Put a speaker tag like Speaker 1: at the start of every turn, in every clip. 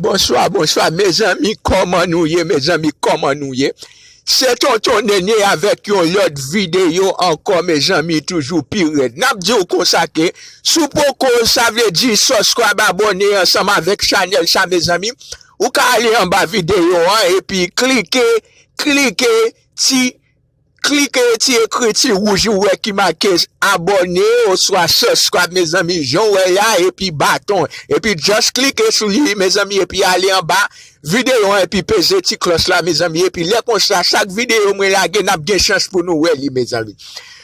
Speaker 1: Bonswa bonswa mezanmi kòman nou ye mezanmi kòman nou ye se tonton nene avèk yon lòt videyo ankò mezanmi toujou pi rèd nap diw konsa ke sou poko sa vle di sòskrayb abòne ansanm avèk chanèl sa mezanmi ou ka ale anba videyo an epi klike klike ti Klike ti ekriti wouj ou wè ki make abòne oswa subscribe mezanmi janw wè ya epi baton epi just klike sou li mezanmi epi ale anba videyo an epi peze ti klòch la mezanmi epi lè konsa chak videyo mwen lage nap gen chans pou nou wè li mezanmi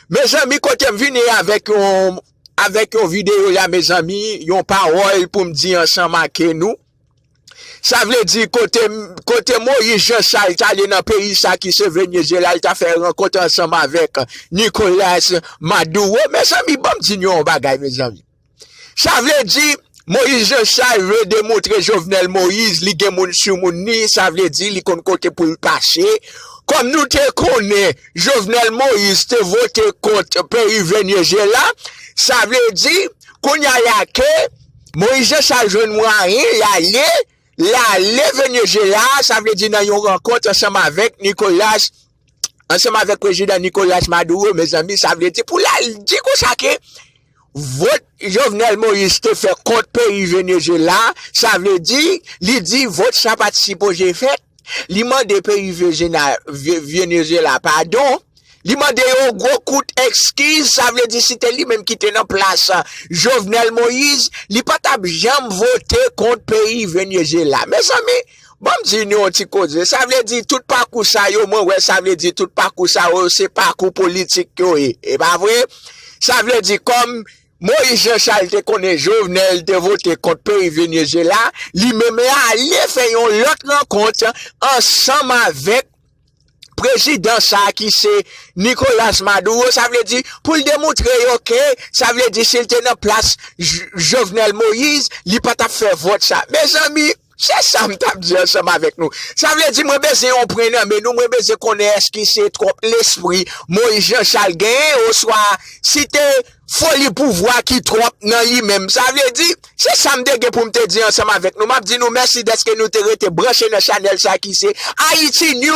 Speaker 1: Mezanmi kotem vini avèk yon avèk yon videyo la mezanmi yon pawòl poum di ansanm ake nou. Sa vle di kote Moyiz Janchal t ale nan peyi sa ki se Venezyela l ta fè rankont ansanm avèk Nikolas Maduro mezanmi banm di nou yon bagay mezanmi sa vle di Moyiz Janchal vle demontre Jovenel Moyiz li gen moun sou moun li sa vle di li konn kote pou l kache kòm nou te konnen Jovenel Moyiz te vote kont peyi Venezyela sa vle di kounya la ke. Moïse Jean Charles jwenn mwayen l ale l ale Venezyela, sa vle di nan yon rankont ansanm avèk Nicolas, ansanm avèk prezidan Nicolas Maduro, mezanmi sa vle di pou l al di konsa ke vòt Jovenel Moïse te fè kont peyi Venezyela, sa vle di li di vòt sa pa t sipoze fèt. li mande peyi Venezyela padon, li mande yo yon gwo kout ekskiz, sa vle di si te li menm ki te nan plas Jovenel Moïse, li pa t ap janm vote kont peyi Venezyela. Mezanmi, ban m di nou yon ti koze, sa vle di tout pakou sa yo, mwen wè sa vle di tout pakou sa yo se pakou politik yo ye, e pa vre? Sa vle di kòm Moïse Jean Charles te konnen Jovenel te vote kont peyi Venezuela, li menm l ale fè yon lòt rankont ansanm avèk prezidan sa ki se Nicolas Maduro, sa vle di pou l demoutre yo ke sa vle di si l te nan plas Jovenel Moïse li pa t ap fè vòt sa. Mezanmi! Se sa m tap di ansanm avèk nou. Sa vle di mwen bezwen yon pren nan men nou, mwen bezwen konnen èske se twòp lespri Moyiz Janchal genyen oswa si te foli pouvwa ki twòp nan li menm. Sa vle di, se sa m te gen pou m te di ansanm avèk nou. M ap di nou mèsi dèske nou te rete branche nan chanèl sa ki se Haïti News.